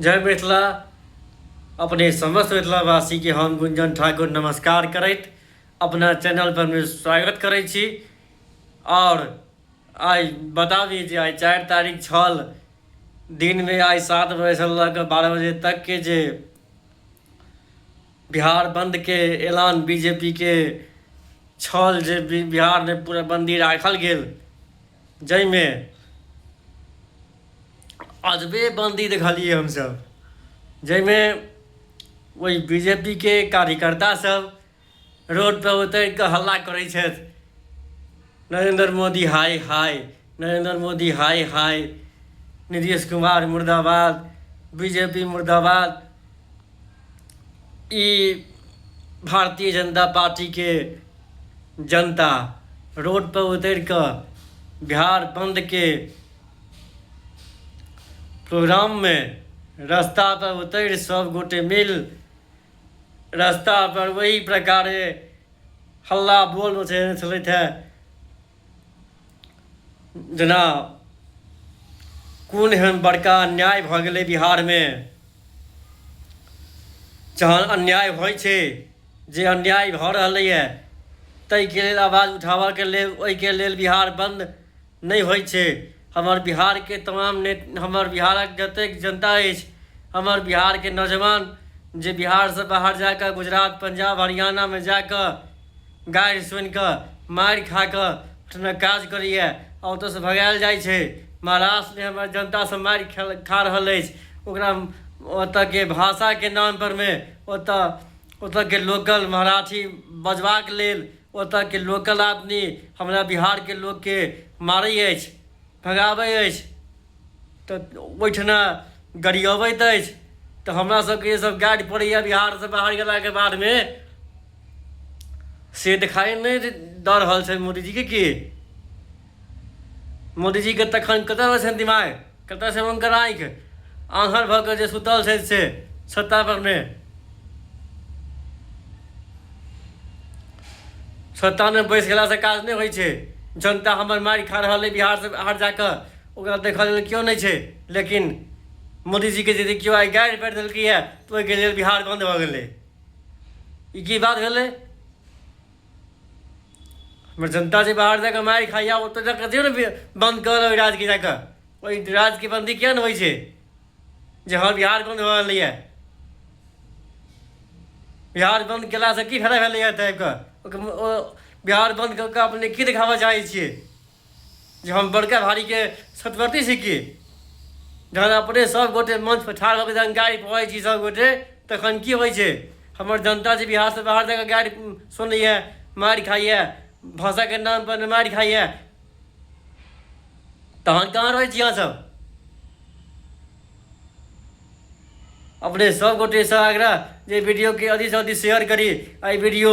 जय मिथिला अपने समस्त मिथिलावासी के हम गुंजन ठाकुर नमस्कार करैत अपना चैनल पर में स्वागत करै छी और आइ बता दी जे आइ चारि तारीख छल दिन में आइ सात बजे से लऽ कऽ बारह बजे तक के जे बिहार बंद के ऐलान बीजेपी के छल जे बिहार में पूरा बंदी राखल गेल जाहिमे अजबे बन्दी देखलियै हमसभ जाहिमे ओहि बी जे पी के कार्यकर्तासभ रोडपर उतरि कऽ हल्ला करै छथि नरेन्द्र मोदी हाय हाय नरेन्द्र मोदी हाय हाय नीतीश कुमार मुर्दाबाद बी जे पी मुर्दाबाद ई भारतीय जनता पार्टीके जनता रोड पर उतरि कऽ बिहार बंद के प्रोग्राम मे रस्ता पर उतरि सब गोटे मिल रस्ता पर ओहि प्रकारे हल्ला बोल मचेने छलथि है जेना कोन एहन बड़का अन्याय भऽ गेलै बिहारमे जहन अन्याय होइ छै जे अन्याय भऽ रहलैए ताहिके लेल आवाज उठाबऽके लेल ओहिके लेल बिहार बन्द नहि होइ छै हमर बिहारके तमाम ने हमर बिहारक जतेक जनता अछि हमर बिहारके नौजवान जे बिहारसँ बाहर जा कऽ गुजरात पंजाब हरियाणामे जा कऽ गारि सुनि कऽ मारि खा कऽ ओहिठिना काज करैए आ ओतयसँ भगायल जाइ छै महाराष्ट्रमे हमर जनतासभ मारि खेल खा रहल अछि ओकरा ओतयके भाषाके नामपर मे ओतय ओतयके लोकल मराठी बजबाक लेल ओतयके लोकल आदमी हमरा बिहारके लोककेँ मारै अछि भगाबै अछि तऽ ओहिठिना गरियबैत अछि तऽ हमरा सबके ये सब गाइड पड़ैए बिहारसँ बाहर गेलाके बादमे से देखाइ नहि दऽ रहल छै मोदीजीके की मोदीजीके तखन कतऽ छनि दिमाग कतऽ छै हुनकर आँखि आन्हर भऽ कऽ जे सुतल छै से सत्ता परमे सत्तामे बैस गेलासँ काज नहि होइ छै जनता हमर मारि खा रहल अइ बिहारसँ बाहर जाकऽ ओकरा देखऽ लेल केओ नहि छै लेकिन मोदीजीके यदि केओ आइ गाड़ि पड़ि देलकै है तऽ ओहिके लेल बिहार बन्द भऽ गेलै ई की बात भेलै हमर जनता जे बाहर जाकऽ मारि खाइए ओतऽ जाकऽ दियौ ने बन्द कऽ ओहि राज्यके जाकऽ ओहि राज्यके बन्दी किया नहि होइ छै जे हँ बिहार बन्द भऽ गेलैए बिहार बन्द केलासँ की फायदा भेलैए तऽ आबि कऽ बिहार बन्द कऽ कऽ अपने की देखाबऽ चाहै छियै जे हम बड़का भारीके सतवर्ती छी की जहन अपने सभगोटे मंचपर ठाढ़ भऽ कऽ जहन गारि पढ़ै छी सभगोटे तखन की होइ छै हमर जनता जे बिहारसँ बाहर जाकऽ गारि सुनैए मारि खाइए भाषाके नामपर मारि खाइए तहन कहाँ रहै छी अहाँसभ अपने सभगोटेसँ आग्रह जे वीडियोके अधिकसँ अधिक शेयर करी एहि वीडियो